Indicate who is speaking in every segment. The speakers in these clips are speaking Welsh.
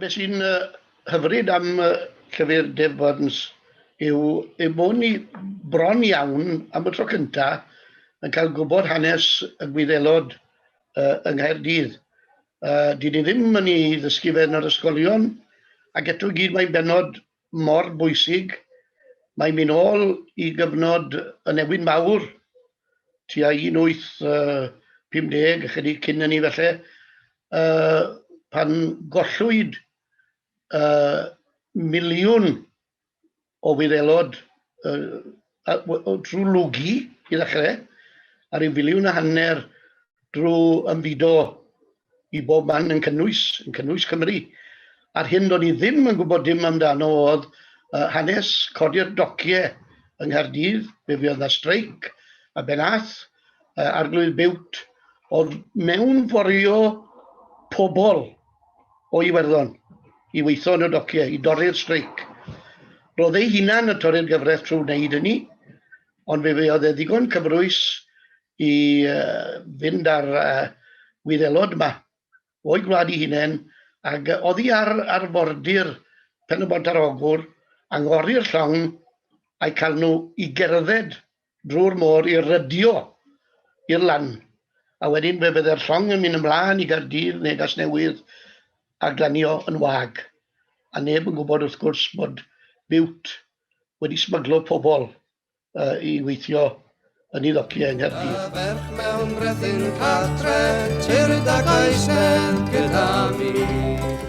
Speaker 1: Be sy'n
Speaker 2: hyfryd am llyfr Dave Burns yw ei bod ni bron iawn, am y tro cyntaf, yn cael gwybod hanes y Gwyddelod yng Nghaerdydd. Dy'n ni ddim yn ei ddysgu fe yn yr ysgolion, ac eto i gyd mae'n bennod mor bwysig. Mae mi nôl i gyfnod y newid mawr, tua 1850, ychydig cyn hynny felly, uh, pan gollwyd uh, miliwn o wyddelod uh, a, o, trwy lwgu i ddechrau, a rhyw filiwn a hanner drwy ymfudo i bob man yn cynnwys, yn cynnwys Cymru. A'r hyn do'n i ddim yn gwybod dim amdano oedd uh, hanes codi'r dociau yng Nghaerdydd, fe fuodd na streic a benath uh, arglwydd biwt, oedd mewn fforio pobl o Iwerddon i weithio yn y dociau, i dorri'r streic. Roedd ei hunan yn torri'r gyfraith trwy wneud hynny, ond fe oedd e ddigon cyfrwys i fynd ar Wyddelod yma o'i gwlad i hunain, ac oddi ar arfordir Pen-y-bont ar Ogwr, anghori'r llong, a'i cael nhw i gerdded drwy'r môr i rydio i'r lan, a wedyn fe fydde'r llong yn mynd ymlaen i Gaerdydd neu Gasnewydd a glanio yn wag, a neb yn gwybod wrth gwrs bod Bute wedi smyglo pobl uh, i weithio yn ei ddociau yng Nghaerdydd. Y ferch mewn
Speaker 1: brethyn cartre, tyrd ac aesnedd gyda mi.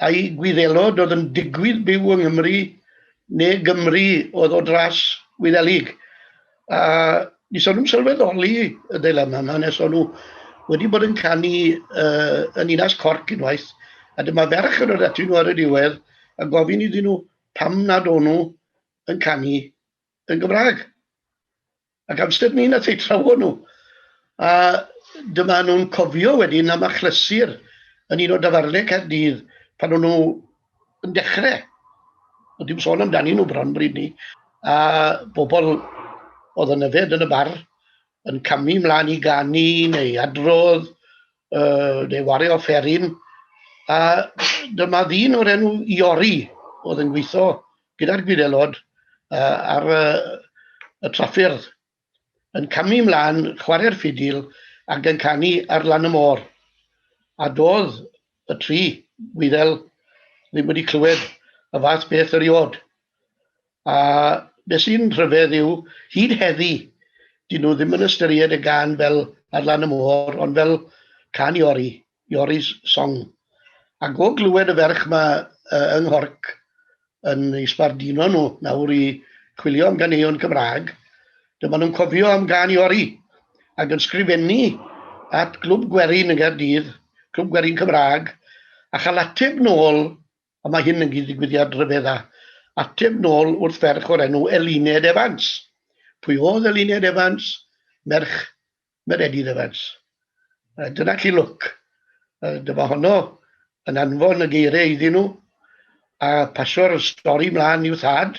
Speaker 2: Ai Gwyddelod oedd yn digwydd byw yng Nghymru, neu Gymry oedd o dras Gwyddelig? A ni so nhw'n sylweddoli y deilemma yma, nes o'n nhw wedi bod yn canu uh, yn Inas Corc unwaith, a dyma ferch yn yr ati nhw ar y diwedd, a gofyn iddyn nhw pam nad o'n nhw yn canu yn Gymraeg. Ac amser ni nath eu trawon nhw. A dyma nhw'n cofio wedyn am achlysur yn un o dafarnau Caerdydd pan o'n nhw yn dechrau. Ond dim sôn amdani nhw bron bryd ni. A bobl oedd yn yfed yn y bar yn camu mlaen i ganu neu adrodd uh, neu wario fferin, a dyma ddyn o'r enw Iori oedd yn gweithio gyda'r gwyddelod uh, ar uh, y traffyrdd yn camu mlaen, chwarae'r ffidil ac yn canu ar lan y môr. A doedd y tri gwyddel ddim wedi clywed y fath beth yr iod. A be sy'n rhyfedd yw, hyd heddi, 'dyn nhw ddim yn ystyried y gân fel 'Ar Lan y Môr', ond fel cân Iori, Iori's Song. Ac o glywed y ferch 'ma yy yng Nghorc yn eu sbarduno nhw nawr i chwilio am ganeuon Cymraeg, dyma nhw'n cofio am gân Iori, ac yn sgrifennu at Glwb Gwerin yng Nghaerdydd, Clwb Gwerin Cymraeg, a chael ateb nôl A mae hyn yn gyd-ddigwyddiad rhyfedda. Ateb nôl wrth ferch o'r enw Eluned Evans. Pwy oedd Eluned Evans? Merch Meredydd Evans. Uh, dyna chi lwc. Uh, dyma honno yn anfon y geiriau iddyn nhw a pasio'r stori mlaen i'w thad.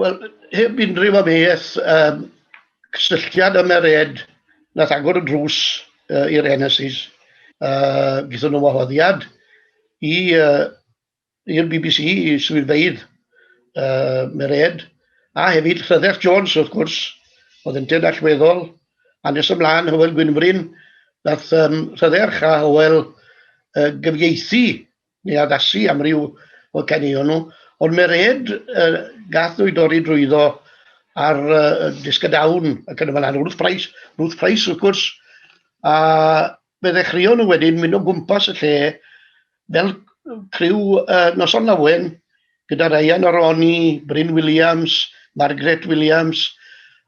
Speaker 2: Wel, heb unrhyw amheuaeth, um, cysylltiad am yr ed, nath agor y drws uh, i'r NSIs. Uh, Gyda nhw wahoddiad i uh, i'r BBC, i swyddfeydd uh, Mered, a hefyd Rhydderch Jones, wrth gwrs, oedd yn dyn allweddol, a nes ymlaen Hywel Gwynfryn, nath um, Rhydderch a Hywel uh, gyfieithu neu addasu am ryw o caneuon nhw, ond mae'r ed uh, gath nhw i dorri drwyddo ar uh, disg y dawn ac yn y fan Ruth Price, Ruth Price wrth gwrs, a fe ddechreuon nhw wedyn mynd o gwmpas y lle fel criw uh, noson lawen gyda Ryan Aroni, Bryn Williams, Margaret Williams,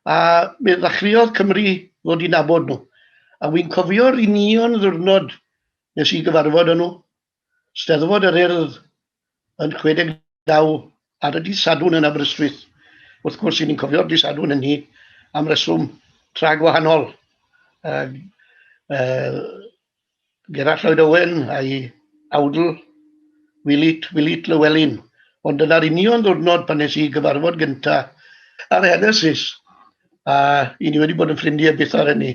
Speaker 2: a fe ddechreuodd Cymru ddod i nabod nhw. A wy'n cofio'r union ddwrnod Wnes i gyfarfod â nhw, Steddfod yr Urdd yn 69 ar y dydd Sadwrn yn Aberystwyth. Wrth gwrs, i ni'n cofio'r dydd Sadwrn hynny am reswm tra gwahanol. Uh, uh, Gerallt Lloyd Owen a'i awdl Wilit, Wilit Lywelyn. Ond dyna'r union ddwrnod pan nes i gyfarfod gyntaf ar Henesis. A i ni wedi bod yn ffrindiau byth ar hynny.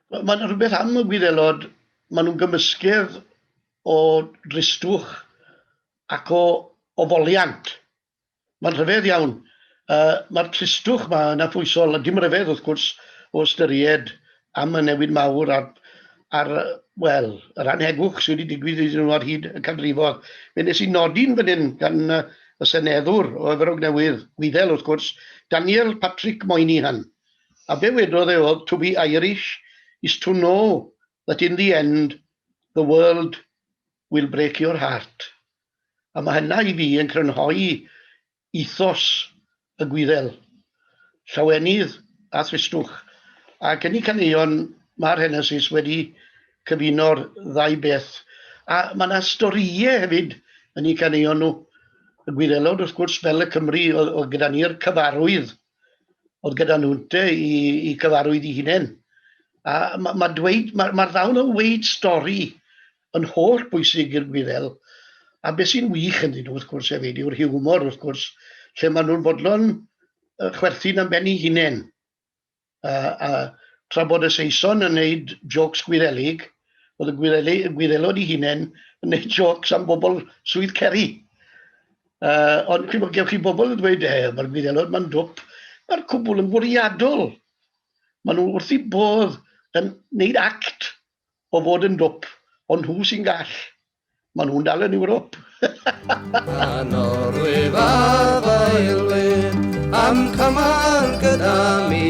Speaker 1: Wel, mae'n
Speaker 2: rhywbeth am y gwyddelod, maen nhw'n gymysgedd o dristwch ac o, o foliant. Mae'n rhyfedd iawn. Uh, Mae'r tristwch yma yn afwysol, a dim rhyfedd wrth gwrs o ystyried am y newid mawr a'r, ar, wel, yr anhegwch sydd wedi digwydd iddyn nhw ar hyd y canrifodd. Fe nes i nodi'n fan hyn gan y seneddwr o Efrog Newydd, Gwyddel wrth gwrs, Daniel Patrick Moynihan. A be wedodd e oedd, to be Irish is to know that in the end the world will break your heart. A mae hynna i fi yn crynhoi ethos y Gwyddel, llawenydd a thristwch. Ac yn y caneuon mae'r Henesis wedi cyfuno'r ddau beth. A mae yna storïau hefyd yn eu caneuon nhw. Y Gwyddelod wrth gwrs, fel y Cymry oedd gyda ni'r cyfarwydd oedd gyda nhw te i, i gyfarwydd i hunain. A mae ma dweud, mae'r ma ddawn o weid stori yn holl bwysig i'r gwyddel. A beth sy'n wych yn dyn nhw, wrth gwrs, hefyd, yw'r hiwmor, wrth gwrs, lle maen nhw'n bodlon chwerthin am ben ei hunain. A, a tra bod y Saeson yn gwneud jocs gwyddelig, oedd y gwyddelod ei hunain yn gwneud jocs am bobl swydd Ceri. Uh, ond chi'n gwybod, chi bobl yn dweud, e, mae'r gwyddelod mae'n dwp, mae'r cwbl yn fwriadol. Maen nhw wrth i bodd yn neud act o fod yn dwp, ond nhw sy'n gall. Maen nhw'n dal yn Ewrop. Anor
Speaker 1: wyf afaelwyd am cymal gyda mi.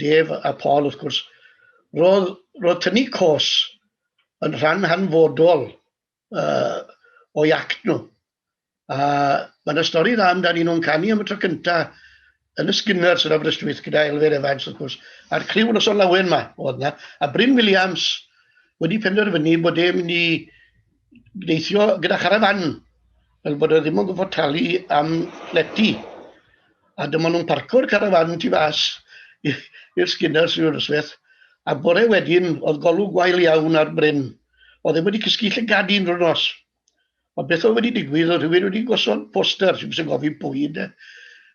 Speaker 2: Dave a Paul wrth gwrs, roedd, roedd tynnu cos yn rhan hanfodol uh, o'i act nhw. A mae yna stori dda amdani nhw'n canu am y tro cynta yn y Skinners yn Aberystwyth gyda Elfed Evans wrth gwrs, a'r criw yn oson lawen yma oedd yna, a Bryn Williams wedi penderfynu bod e'n mynd i deithio gyda charafan, fel bod e ddim yn gwybod talu am leti. A dyma nhw'n parco'r carafan tu fas i'r Skinners i'r ysweth. A bore wedyn, oedd golwg gwael iawn ar Bryn. Oedd e wedi cysgu llygad un drwy'r nos. Ond beth oedd wedi digwydd, oedd rhywun wedi gosod poster, sy'n sy'n gofyn pwy yna,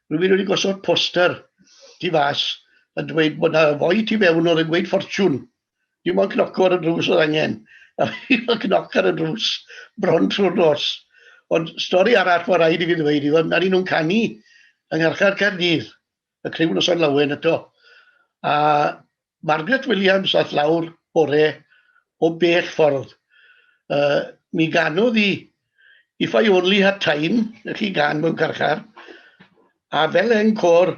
Speaker 2: rhywun wedi gosod poster tu fas yn dweud bod yna foi tu fewn oedd yn gweud ffortiwn. Dim ond cnoco ar y drws oedd angen. A fi fel cnoc ar y drws bron trwy'r nos. Ond stori arall mae rhaid i fi ddweud i fod, nad nhw'n canu yng Ngharchar Caerdydd, y criw nos o'n lawen eto. A Margaret Williams ath lawr bore o bell ffordd. Uh, mi ganodd i If I Only Had Time, y chi gan mewn carchar, a fel encor